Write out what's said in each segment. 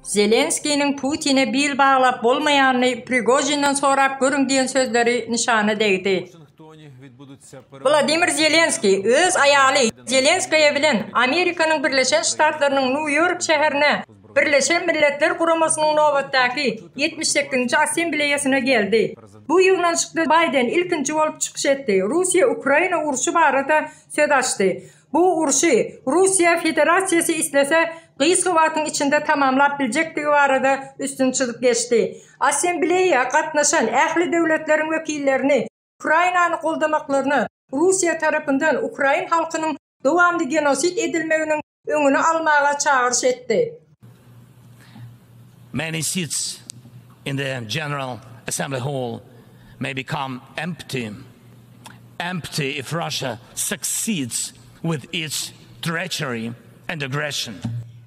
Zelenskiniň Putine bil baglap bolmaýanyny Prigojinden sorap görüň diýen sözleri nyşana degdi. Wladimir Zelenskiý öz aýaly Zelenskaýa bilen Amerikanyň Birleşen Ştatlarynyň Nýu-Ýork şäherine Birleşen Milletler Guramasynyň nobatdaky ýetmiş sekizinji Assembleýasyna geldi. Bu ýygnanyşykda Baýden ilkinji bolup çykyş etdi, Russiýa-Ukraina urşy barada söz açdy. Bu urşy Russiýa Federasiýasy islese, gysga wagtyň içinde tamamlap biljekdigi barada üstüni çyzyp geçdi. Assembleýa gatnaşan ähli döwletleriň wekillerini Ukrainany goldamaklaryna, Russiýa tarapyndan ukrain halkynyň dowamly genosid edilmeginiň öňüni almaga çagyryş etdi. Many seats in the General Assembly Hall may become empty, empty if Russia succeeds with its treachery and aggression.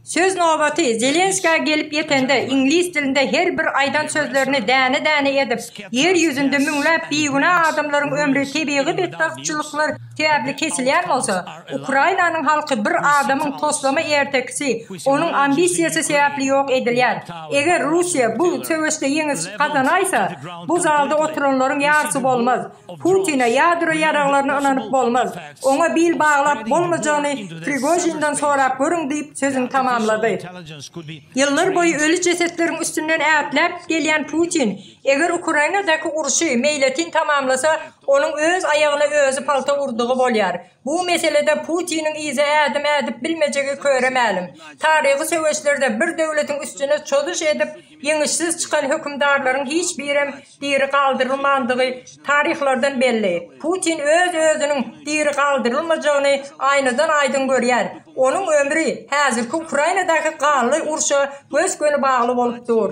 Söz nobaty Zelenskä gelip ýetende, iňlis dilinde her bir aýdan sözlerini däne-däne edip, ýer ýüzünde müňläp bigünä adamlaryň ömri, tebigy betbagtçylyklar, Käbli kesilýän bolsa, Ukrainanyň halky bir adamyň toslama ertekisi, onuň ambisiýasy sebäpli ýok edilýär. Eger Russiýa bu söweşde ýeňiş gazanaýsa, bu zalda oturanlaryň ýarsy bolmaz. Putine ýadro ýaraglaryna ynanyp bolmaz. Oňa bil baglap bolmajagyny Prigožinden sorap görüň diýip sözüni tamamlady. Ýyllar boýy öli jesetleriň üstünden ätläp gelýän Putin, eger Ukrainadaky urşy meýletin tamamlasa, Onuň öz aýagyna özi palta urdugy bolýar. Bu meselede Putiniň yza ädim ädip bilmejegi köre mälim. Taryhy söweşlerde bir döwletiň üstüne çozuş edip, ýeňişsiz çykan hökümdarlaryň hiç birem diri galdyrylmandygy taryhlardan belli. Putin öz-özüniň diri galdyrylmajagyny aýnadan aýdyň görýär. Onuň ömri häzirki Ukrainadaky gally urşa gös-göni bagly bolup dur.